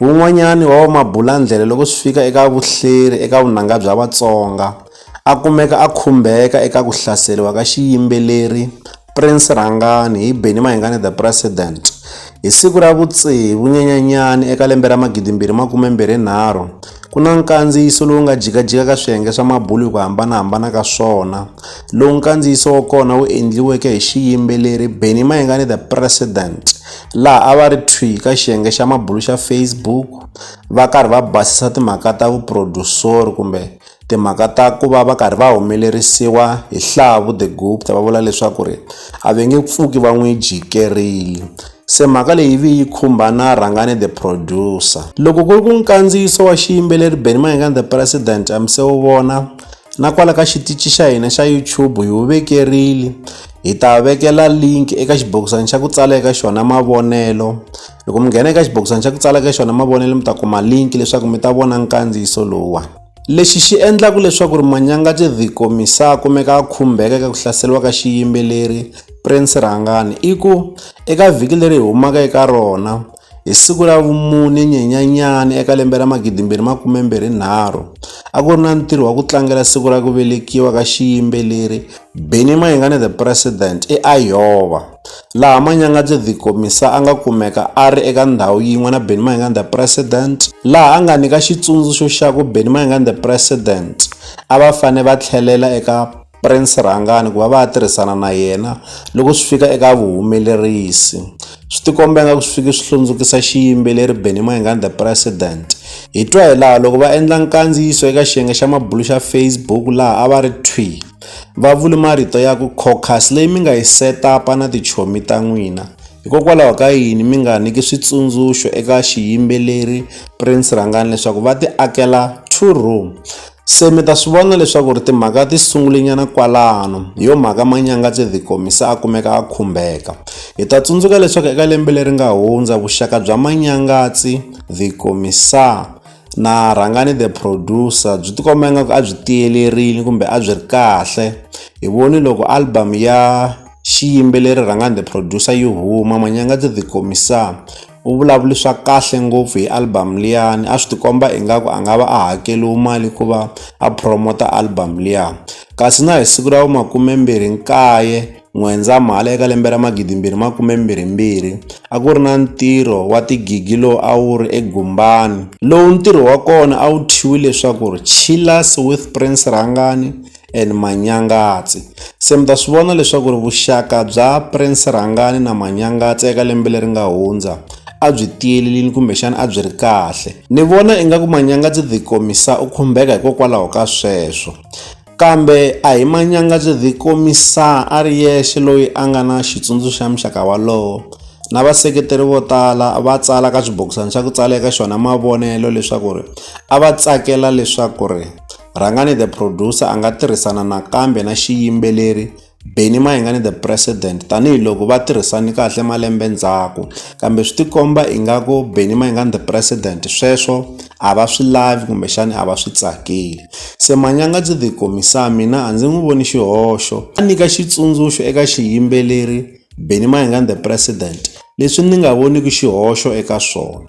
Wun'wanyani wa vamabulandlela loko swi fika eka vuhleri eka vunanga bya Vatsonga a kumeka a khumbeka eka ku hlaseriwa ka xiyimbeleri Prince Rhangani hi Benny Mayengani The President hi siku ra vutsevu nyanyanyani eka lembe ra magidimbirhi makume mbirhi nharhu ku na nkandziyiso lowu nga jikajika ka swiyenge swa mabulu hi ku hambanahambana ka swona lowu nkandziyiso wa kona wu endliweke hi xiyimbeleri Benny Mayengani The President laha a va ri thwi ka xiyenge xa mabulu xa Facebook va karhi va basisa timhaka ta vuproducer kumbe timhaka ta ku va va karhi va humelerisiwa hi Hlavu the Gupta va vula leswaku ri a va nge pfuki va n'wi jikerile se mhaka leyi vi yi khumba na Rhangane the producer loko ku ri ku nkandziyiso wa xiyimbeleri Benny Mayengani the president a mi se wu vona na kwala ka xitichi xa hina xa YouTube hi wu vekerile hi ta vekela link eka xibokisana xa ku tsala eka xona mavonelo loko mi nghena eka xibokisana xa ku tsala eka xona mavonelo mi ta kuma link leswaku mi ta vona nkandziyiso lowuwani lexi xi endlaka leswaku ri manyanga tidhiko misa kumeka a khumbeka eka ku hlaseriwa ka xiyimbeleri prince rhangani i ku eka vhiki leri hi humaka eka rona Hi siku ra vumune Nyenyenyani eka lembe ra 2023, a ku ri na ntirho wa ku tlangela siku ra ku velekiwa ka xiyimbeleri Benny Mayengani The President eIowa, laha Manyangatse The Komisa a nga kumeka a ri eka ndhawu yin'we na Benny Mayengani The President, laha a nga nyika xitsundzuxo xa ku Benny Mayengani The President a va fanele va tlhelela eka Prince Rhangani ku va va ya tirhisana na yena loko swi fika eka vuhumelerisi. Swi tikomba ingaku swi fike swi hlundzukisa xiyimbeleri Benny Mayengani The President. Hi twa hi laha loko va endla nkandziyiso eka xiyenge xa mabulu xa Facebook laha a va ri thwi, va vule marito ya ku caucus leyi mi nga yi set-up-a na tichomi ta n'wina, hikokwalaho ka yini mi nga nyiki switsundzuxo eka xiyimbeleri Prince Rhangani leswaku va ti akela two room. Se mi ta swi vona leswaku ri timhaka ti sungulenyana kwalano hi yo mhaka manyanga tse the komisa a kumeka a khumbeka hi ta tsundzuka leswaku eka lembe leri nga hundza vuxaka bya manyangatsi the komisa na rhangani the producer byi tikomba ingaku a byi tiyelerile kumbe a byi ri kahle hi voni loko album ya xiyimbeleri rhangani the producer yi huma manyangatsi the komisa u vulavuli swa kahle ngopfu hi album liyani a swi tikomba ingaku a nga va a hakeliwi mali ku va a promota album liya kasi na hi siku ra vu makumembirhi nkaye n'wendzamhala eka lembe ra magidimbirhi makumembirhimbirhi a ku ri na ntirho wa tigigi lowu a wu ri egumbani lowu ntirho wa kona a wu thyiwi leswaku ri chillers with prince rhangani and Manyangatse. Se mi ta swi vona leswaku ri vuxaka bya Prince Rhangani na Manyangatse eka lembe leri nga hundza a byi tiyelelini kumbexana a byi ri kahle ni vona ingaku Manyangatse the komisa u khumbeka hikokwalaho ka sweswo kambe a hi Manyangatse the komisa a ri yexe loyi a nga na xitsundzuxo xa muxaka walowo na vaseketeri vo tala va tsala ka xibokisana xa ku tsala eka xona mavonelo leswaku ri a va tsakela leswaku ri Rhangani the producer a nga tirhisana nakambe na xiyimbeleri Benny Mayengani the president tanihiloko va tirhisani kahle malembe ndzhaku kambe swi tikomba ingaku Benny Mayengani the president sweswo a va swi lavi kumbexani a va swi tsakeli se manyanga byi the komisa mina a ndzi n'wi voni xihoxo a nyika xitsundzuxo eka xiyimbeleri Benny Mayengani the president leswi ni nga voniki xihoxo eka swona